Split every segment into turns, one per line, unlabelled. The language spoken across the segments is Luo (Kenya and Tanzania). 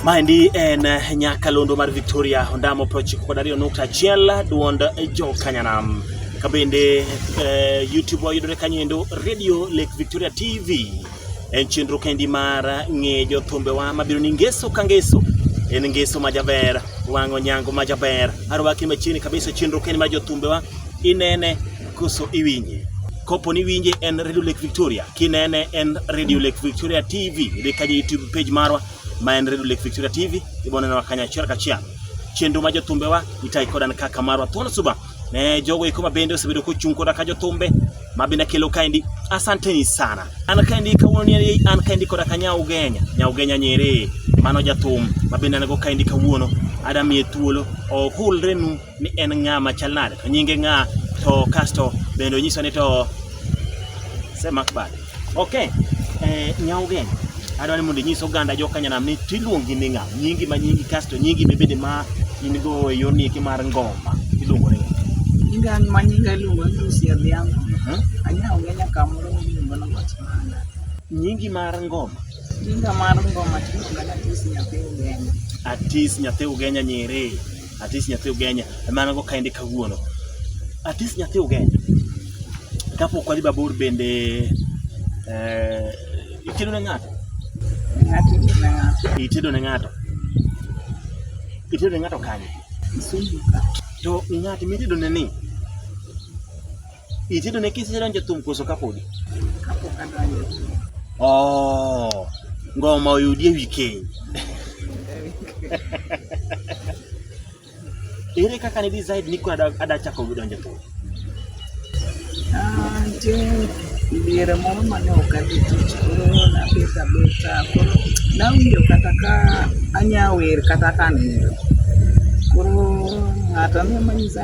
Maendi en eh, nyakalondo mar Victoria Ondamo prochiko kod ariyo nukta achiel duond jokanyanam kabende eh, YouTube wayudore kanyo endo Radio Lake Victoria TV En chenro kendi mar ng'e jothumbewa mabiro ni ngeso ka ngeso en ngeso ma jaber wang'o nyango ma jaber arwaki machiegni kabisa chenro kendi mar jothumbewa inene koso iwinje kopo ni winje en Radio Lake Victoria kinene en Radio Lake Victoria TV idhi kaja YouTube page marwa ma en Radio Lake Victoria TV ibonenwa kanyachiel kachiel chenro ma jothumbewa itayi kodan kaka marwa thuon suba Ne jogo iko mabende osebedo kochung' koda ka jothumbe ma bende kelo kaendi. Asanteni sana. An kaendi kawuono ni an kaendi koda ka Nyau Genya, Nyau Genya Nyerere. Mano jathum ma bende an go kaendi kawuono. Adamiye thuolo ohulrenu ni en ng'a machal nade, to nyinge ng'a, to kasto bende onyiswa ni to semak bade. Okay. Eh, Nyaugen. Adwa ni mondo inyis oganda jo Kanyanam ni tiluongi ni ng'a? Nyingi ma nyingi kasto nyingi bebede ma in go e yor nieki mar ngoma. Iluongo ni. Nyinga ma nyinga iluongo ni Lucy Adhiambo. Mhm. Anyaugen nyaka moro miluongo ni Ng'ochmana. Nyingi mar ngoma. Nyinga mar ngoma tiluongo ni Atis Nyathi Ugenya. Atis nyathi ugenya nyiri. Atis nyathi ugenya emana go kaende kawuono. Atis nyathi ugenya. Kapok wadhi babor bende eh, itedo ne ng'ato? Ng'ato ne ng'ato. Itedo ne ng'ato? Itedo ne ng'ato kanye? Kisumu ka. To ng'at mitedo ne ni? Itedo ne kisi donjo e thum koso kapodi? Kapok adonjo e thum. Oh, ngoma oyudi e weekend. Ere kaka ne decide ni kwa ada chako donjo e thum? Ah, nje diere moro mane ok adhi tich koro nabet abeta koro nawinjo kata ka anya wer kata ka nindo koro ng'ato ne manyisa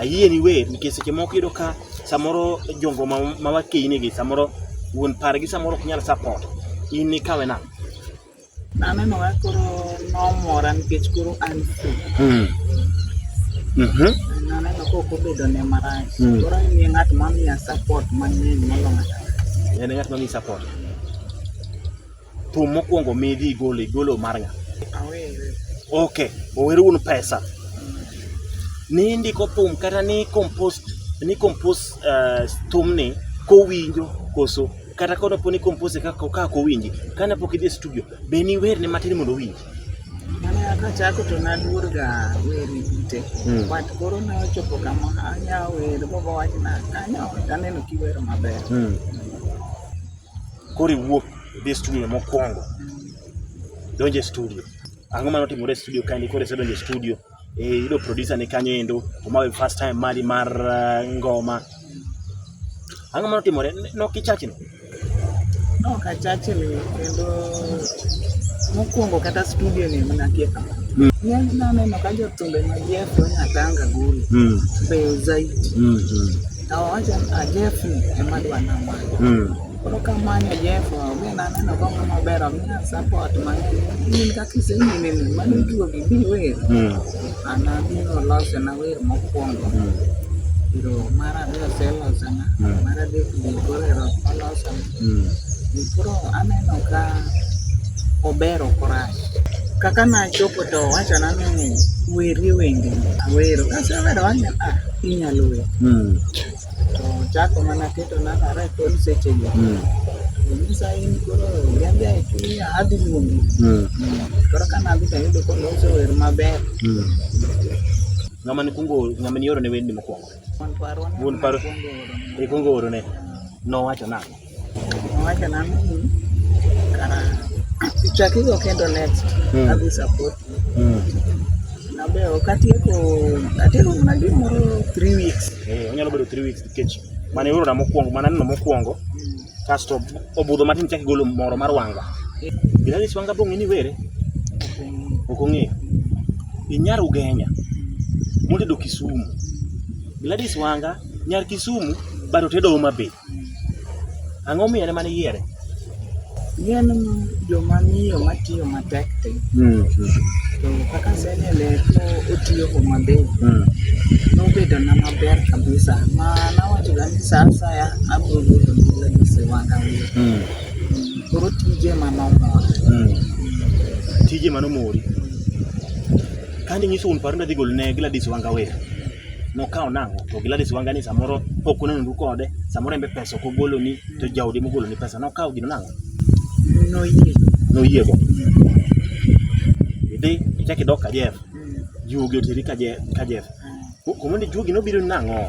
ayie ni wer nikech seche moko iyudo ka samoro jongo ma wakeyini gi samoro wuon pargi samoro ok nyal support in ikawe nang'o anenoga koro nomora nikech koro an free hmm. mhm. naneno ka ok obedo ne marach hmm. koro en ng'at mamiya support mang'eny moloyo en ng'at mamiyi support Thum mokwongo midhi igolo igolo mar ng'a? Ok, ower un pesa. Ni indiko thum kata ni compost ni compost uh, eh, thumni kowinjo koso kata kono poni compose ka ka kowinji kana pok idhi studio be ni wer ne matin mondo owinji kachako to naluorga wer ite hmm. but koro ne ochopo kama anya wer bobo wachna kanyo taneno kiwero maber hmm. Koro iwuok idhi e studio mokwongo, donjo e studio. Ang'o ma notimore e studio kae ni koro isedonjo e studio? Eh, yudo producer ni kanyo endo, omawe first time mari mar uh, ngoma. Ang'o ma notimore? Nokichachni? Nokachachni kendo mokwongo kata studio ni mnakie kama. Mm. Ng'eny naneno ka jothumbe ma Jeff Onyango Gulu mm. beyo zaidi. Mm -hmm. To owacho ni Jeff ni ema dwa namako. Mm. Koro kamanyo Jeff, be naneno ka ng'ama ber, omiya support mang'eny. In kaka isenyimimi, mano iduogi bi wer. Mm. An abiro losona wer mokwongo. Mm. Koro mar ariyo oselosona, Mm. mar adek be koro ero olosona. Mm. Koro aneno ka ober ok orach. Kaka nachopo to owachona ni weri wendi awero. Kasewero wang'e ah inyalo wer. Mm. To chako mana keto namba rekod seche go. Mm. Nyisa in koro yande e chunya adhi luongi. Mm. Koro ka nadhi to ayudo koloso wer maber. Mm. Ng'ama nikwongo ng'ama nioro ne wendni mokwongo? Wuon paro ikwongo oro ne nowacho nang'o? Nowacho nang'o ni kara ichakigo kendo next hmm. adhi support hmm. nabe ok atieko atieko mana gimoro three weeks. Eh, onyalo bedo three weeks nikech mane orona mokwongo mana neno mokwongo kasto obudho matin chak igolo moro mar wanga gina ni wanga bong'e ni were ok ong'eyo inyar ugenya motedo kisumu Gladys Wanga nyar kisumu bado tedo Homa Bay ang'o miyo ene mane yiere gin joma miyo matiyo pek ti. Mm. To kaka asenene to otiyo Homa Bay. Mm. Nobedo na maber kabisa. Ma nawacho ga ni sa asaya abiro yudo mula gi siwanga wiye. Mm. Koro tije ma nomora. Mm. Tije mano mori. Kandi nyiso un paro ndadhi gol ne Gladys Wanga Wer. nokawo nang'o to Gladys Wanga ni samoro pok unenoru kode samoro embe pesa ok ogoloni to jaodi mogoloni pesa nokawo gino nang'o noyie noyiego idhi ichak idok Kajef juogi oteri Kaje- Kajef kumoni juogi nobiro nang'o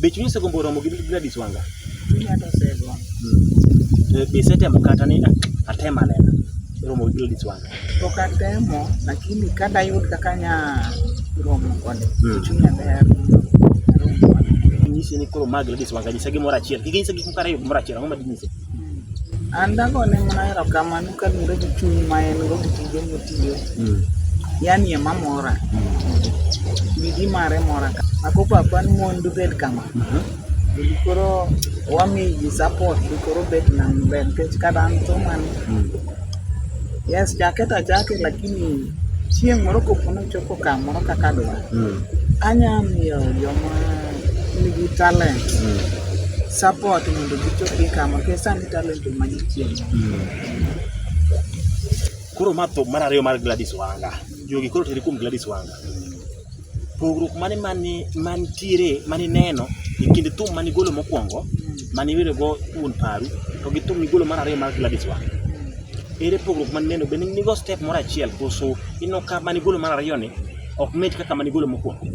Be chunyi osegombo romo gi Gladys Wanga? Chunya to osegombo. Hmm. Eh, be isetemo kata ni ah, atema nena romo gi Gladys Wanga? Pok atemo, lakini ka dayud kaka nya romo kode, hmm. chunya ber. Nyisi ni koro ma Gladys Wanga nyisa gimoro achiel. Kik nyisa gik moko ariyo gimoro achiel, ang'o ma dinyise? An dagone mana erokamano kaluwore gi chuny ma en go gi tije motiyo. Mm. Yani ema mora. Bidii mm. mare mora ka. Ako papa ni mon dubed kama. Mm-hmm. Bidi koro wami ji support bi koro bet na maber nikech kata an to man. Mm. Yes, chake ta chake lakini chieng' moro kopo nochopo kamoro kaka dwa. Anya miyo joma nigi talent mm. support mondo gichopi kama kech sani talent ema gichiemo mm. koro ma thum mar ariyo mar Gladys Wanga jogi koro teri kuom Gladys Wanga pogruok mane mani mantiere mani neno e kind thum mani golo mokwongo mani wero go wuon paru to gi thum migolo mar ariyo mar Gladys Wanga ere pogruok mani neno bende nigo step moro achiel koso ino ka mani golo mar ariyo ni ok mit kaka mane igolo mokwongo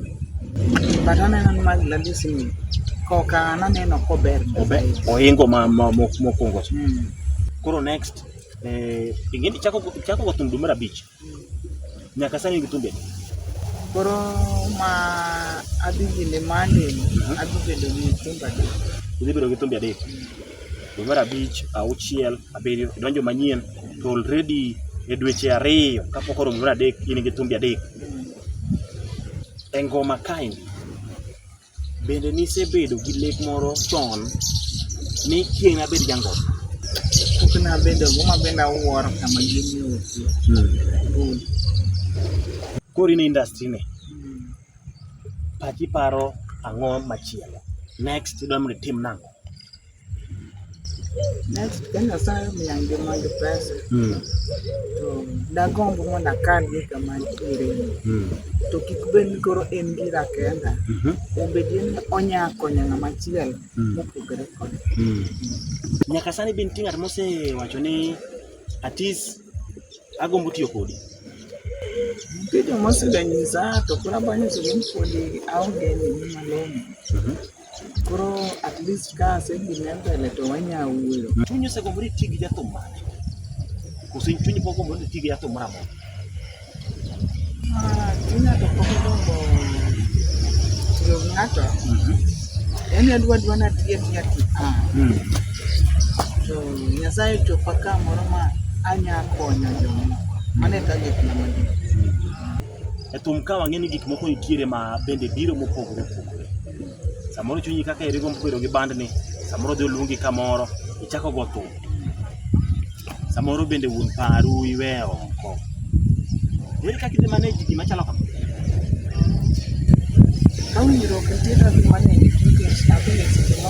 but aneno ni mag lalisi ni koka naneno kober ohingo ma mokwongo hmm. koro next eh, ingeni chako chako go thum dwe mar abich hmm. nyaka sani gi thumbe koro ma adhi gine mande mhm. adhi bedo gi thumbe adek udhi bedo gi thumbe adek hmm. dwe mar abich, auchiel, abiriyo, idonjo manyien to already e dweche ariyo kapok oromo mar adek in gi thumbi adek. E ngoma kaendi, bende nisebedo gi lek moro chon ni chieng' nabed jangoma? Pok nabedo, ngoma bende awuoro kama gini otuo. Koro in e industry ni? Pachi paro ang'o machielo? Next idwa mondo itim nang'o? Next ka Nyasaye omiya ngima gi pesa Mm. to dagomb mondo akan gi kama antiere Mm. to kik bed ni koro en gira kenda Mhm. obed ni onya konyo ng'ama chielo Mm. mopogore kode. Mm. Nyaka sani be nitie ng'at mosewacho ni atis agombo tiyo kodi. Nitie joma oseganyiza to koro abo nyiso ni podi aonge ni malong'o. Koro at least ka asedhine mbele to wanya wuoyo. Chunyi osegombo ni iti gi jathum mane? Koso in chunyi pok ogombo ni iti gi jathum moro amora? Yaani adwa dwa na tiye tiya ti. Hmm. To nyasaye chopa ka moro ma anya konyo jomoko. Mane ka gik na magi. E thum ka wang'e ni gik moko nitiere ma bende biro mopogore opogore. Samoro chunyi kaka eri gombo bedo gi bandni, samoro dhi oluongi kamoro, ichako go thum. Samoro bende wuon paru iwe oko. Ere kaka idhi manage gima chalo kama? Ka winjruok nitie to adhi manage nikech abende seche ma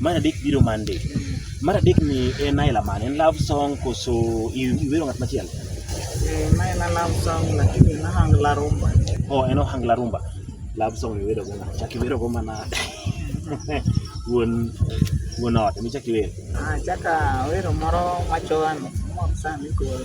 Mar adek biro Monday. Mar adek ni en aila mane? En love song koso i- iwero ng'at machielo? Eh, ma en love song lakini en ohangla rumba. Oh, en ohangla rumba. Love song iwero go ng'at. Chak iwero go mana wuon wuon ot emi chak iwero. Ah, chaka wero moro machoan mok sani koro.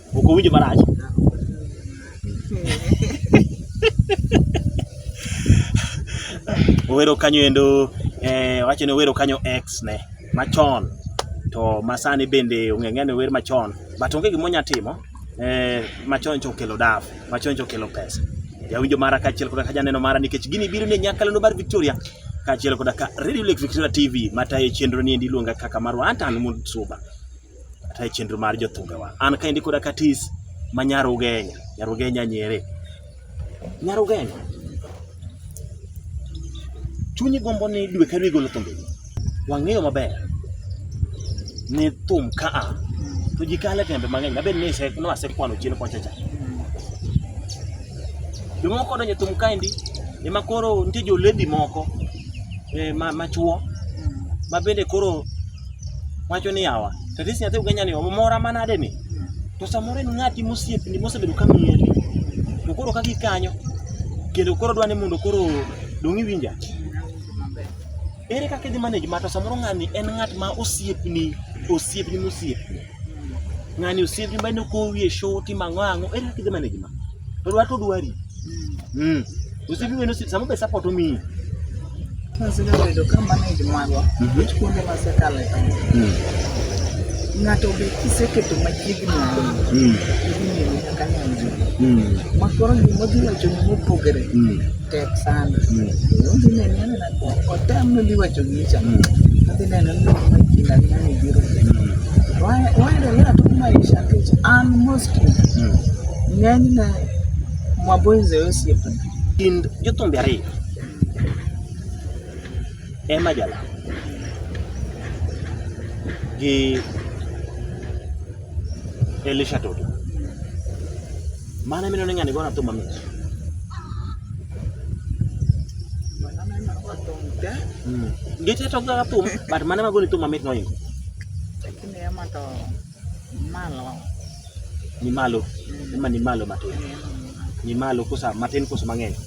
Ok owinjo marach. Owero kanyo endo eh, wacho ni owero kanyo ex ne machon to masani bende ong'eng'e ni ower machon but onge gima onya timo eh, machon cha okelo daf machon cha okelo pesa jawinjo mara kaachiel koda ka janeno mara nikech gini biro ni e nyakalano mar Victoria kaachiel koda ka Radio Lake Victoria TV matayo chenro ni endi iluonga kaka marwa Antan Mutsuba kata e chenro mar jothumbewa. An kaendi koda katis ma nyar Ugenya, nyar Ugenya Nyere. Nyar Ugenya, chunyi gombo ni dwe ka dwe igolo thumbe. Wang'eyo maber ni thum ka a to ji kale tembe mang'eny mabed ni noasekwano chien kocha cha. Jomoko donjo e thum kaendi ema koro nitie joledi moko eh, ma machuo ma bende koro wacho ni yawa to this nyathi ugenya ni omora manade ni to samoro en ng'ati mosiepni mosebedo ka mieri to koro ka gikanyo kendo koro dwa ni mondo koro dong' iwinja ere kaka idhi manage ma to samoro ng'ani en ng'at ma osiepni osiepni mosiepni ng'ani osiep nyumba ni kowie shoti mang'o ang'o ere kidhi mane gima to dwa to dwari mm osiep nyumba ni osiep sama be support omiyi Osebedo ka manage magwa nikech kuonde ma sekale ng'ato be kiseketo machiegni ahinya idhi neno nyaka nyanjo makoro gima odhi wachoni mopogore tek sana mm. udhi nene na otam no dhi wacho gicha mm. adhi neno ni kuma kinda ni nani biro waendelea tu maisha kicha an mostly mm. ng'enyne mwaboize osiepe kind jothumbe ariyo ema jala gi Elisha Toto Mano emino ni ng'ani gona thum mamit. Mm. Gite to ga thum but mano ema goni thum mamit moingo. Lakini ema to malo. Ni malo. Ema ni malo matin. Ni malo kosa matin kosa mang'eny.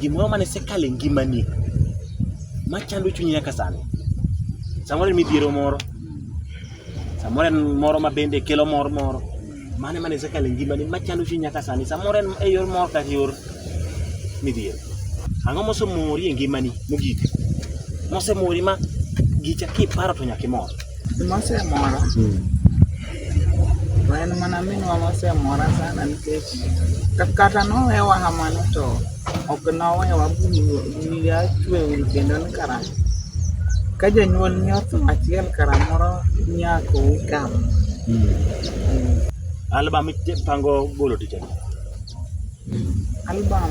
Gimoro mane sekale ngimani machando chunyi nyaka sani. Samoro en midhiero moro, samoro en moro ma bende kelo mor moro. Mane mane sekale ngimani machando chunyi nyaka sani. Samoro en e yor mor kata yor midhiero. Ang'o mosemori e ngimani mogik? Mosemori ma gicha kiparo to nyaka imor. Mosemora. Hmm. To en mana minwa mosemora sana nikech kata nowewa kamano to ok nowewa wiya chwe ur kendo ni kara ka janyuol ni otho achiel kara moro nyako wikam. Hmm. Album ipango golo tich adi? Album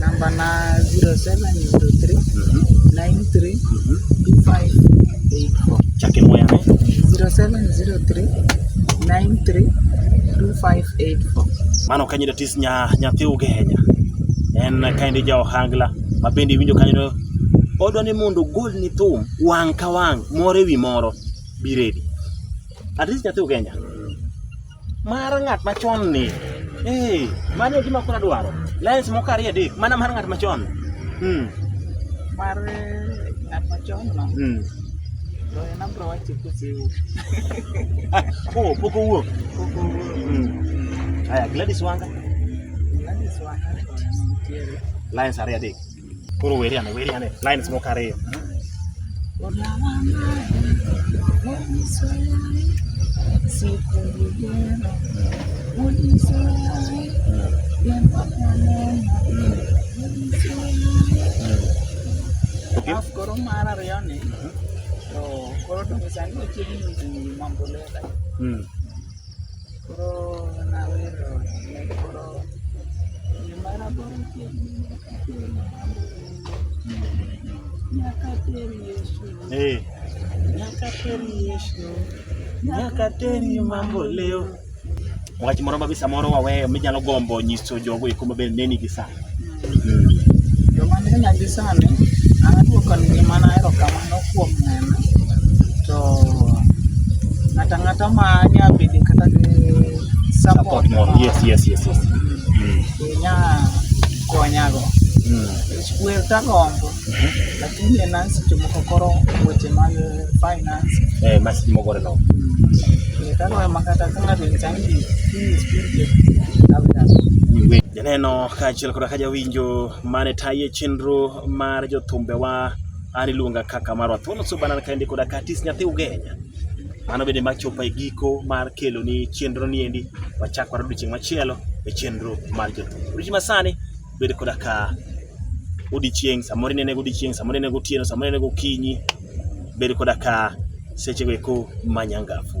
Namba na 0703 93 2584. Chake moya ne? 0703 93 2584. Mano kanyo da tis nya nyathi ugenya. En kaindi ja ohangla ma bende winjo kanyo do odwa ni mondo gol ni thum wang' ka wang' moro ewi moro bi ready. At least nyathi ugenya. Mar ng'at machon ni. Eh, mano gima kuna dwaro. Lens moko ariyo adek, mana mar ng'at machon. Hmm. Mar ng'at machon no. Hmm. Loyo na bro wacho kusiu. Oh, poko wuok. Poko wuok. Hmm. Aya, Gladys Wanga. Gladys Wanga. Lens ariyo adek. Koro weri ane, weri ane. Lines moko ariyo. Alafu koro mar ariyo ni to koro to sani ochiegni mambo leta. Mm. Hey. Nyakateni Yesu, nyakateni mambo leo. Wach moro mabisa moro waweyo minyalo gombo nyiso jogo eko maber neni gi sani. Joma ni nyagi sani, an aduoko ni ngima na erokamano kuom nena. To ng'ata ng'ata ma nya bede kata gi support moro. Yes, yes, yes, yes. Mm. Nya konyago. Mm. Wer tagombo. Mhm. Lakini en an seche moko koro weche mag finance. Eh, ma seche moko no. Wer tagombo makata ka ng'ato ni chandi, please, please, please. Janeno kaachiel koda ka jawinjo mane taye chenro mar jothumbewa an iluonga kaka marwa thuolo so banan kaendi koda ka atis nyathi ugenya mano bende machopo e giko mar keloni chenro ni endi wachak wara odiochieng' machielo e chenro mar jothum odiochieng' masani bed koda ka odiochieng' samoro inene godiochieng' samoro inene gotieno samoro inene gokinyi bed koda ka sechego eko manyangafu